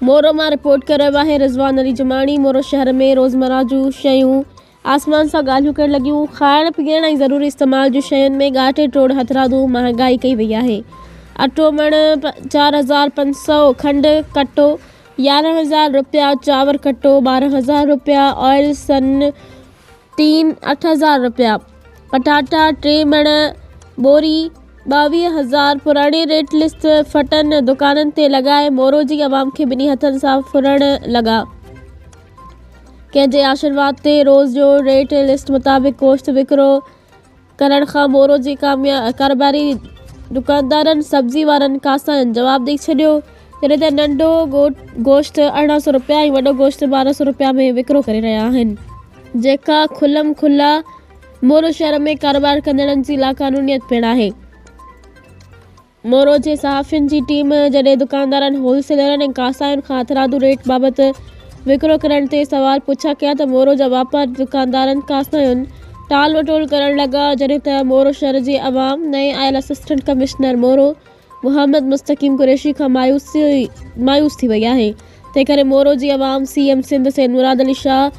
مورو مان رپورٽ ڪري رهيو آهي رضوان علي جماڻي مورو شهر ۾ روزمرا جون شيون آسمان سان ڳالهيون ڪرڻ لڳيون کائڻ پيئڻ ۽ ضروري استعمال جون شين ۾ ڳاٽي ٽوڙ هٿرادو مهانگائي ڪئي وئي آهي اٽو مڻ چار هزار پنج سئو کنڊ ڪٽو يارهن هزار رپيا چانور ڪٽو ٻارهن هزار رپيا آئل سن ٽين اٺ هزار رپيا پٽاٽا ٽي مڻ ٻوري ٻاويهه هزار پراڻي ريٽ لسٽ ڦٽن دڪانن تي لڳائي مورو جي عوام کي ٻنهي هٿن سان ڦرڻ لڳا ڪنهن جي آشرواد تي روز جو ريٽ لسٽ مطابق گوشت وڪرو ڪرڻ کان مورو جي ڪارباري دڪاندارن سبزي وارن کانسائين جواب ڏئي ڇڏيو جڏهن ته ننڍو گوشت ارڙهن سئو رپيا ۽ وڏو گوشت ٻارهن سئو رپيا ۾ وڪرو ڪري رهيا آهن، جيڪا کلم کلا مورو شهر ۾ ڪاروبار ڪندڙن جي لاقانونيت پڻ آهي. مورو جي صحافين جي ٽيم جڏهن دڪاندارن، هول سيلرن ۽ ڪاساين کان هٿرادو ريٽ بابت وڪرو ڪرڻ تي سوال پڇا ڪيا ته مورو جا واپاري دڪاندارن ڪاساين ٽال مٽول ڪرڻ لڳا جڏهن ته مورو شهر جي عوام نئين آيل اسسٽنٽ ڪمشنر مورو محمد مستقيم قريشي کان مايوس ٿي وئي آهي، تنهن ڪري مورو جي عوام سي ايم سنڌ سيد مراد علي شاهه،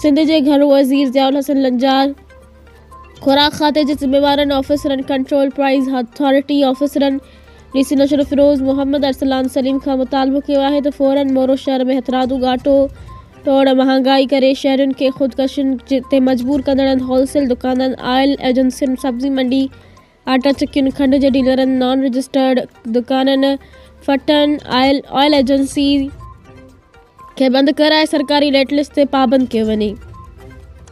سنڌ جي گهرو وزير ضياء الحسن لنجار، خوراڪ کاتي جي ذميوارن آفيسرن، ڪنٽرول پرائيز اٿارٽي آفيسرن، ڊي سي نشرفروز محمد ارسلان سليم کان مطالبو ڪيو آهي ته فورن مورو شهر ۾ هٿرادو ڳاٽو ٽوڙ، مهانگائي ڪري شهرين کي خودڪشين تي مجبور ڪندڙن هول سيل دڪانن، آئل ايجنسين، سبزي منڊي، آٽا چڪين، کنڊ جي ڊيلرن، نان رجسٽرڊ دڪانن، ڦٽن، آئل ايجنسين کي بند ڪرائي سرڪاري ريٽ لسٽ تي پابند ڪيو وڃي.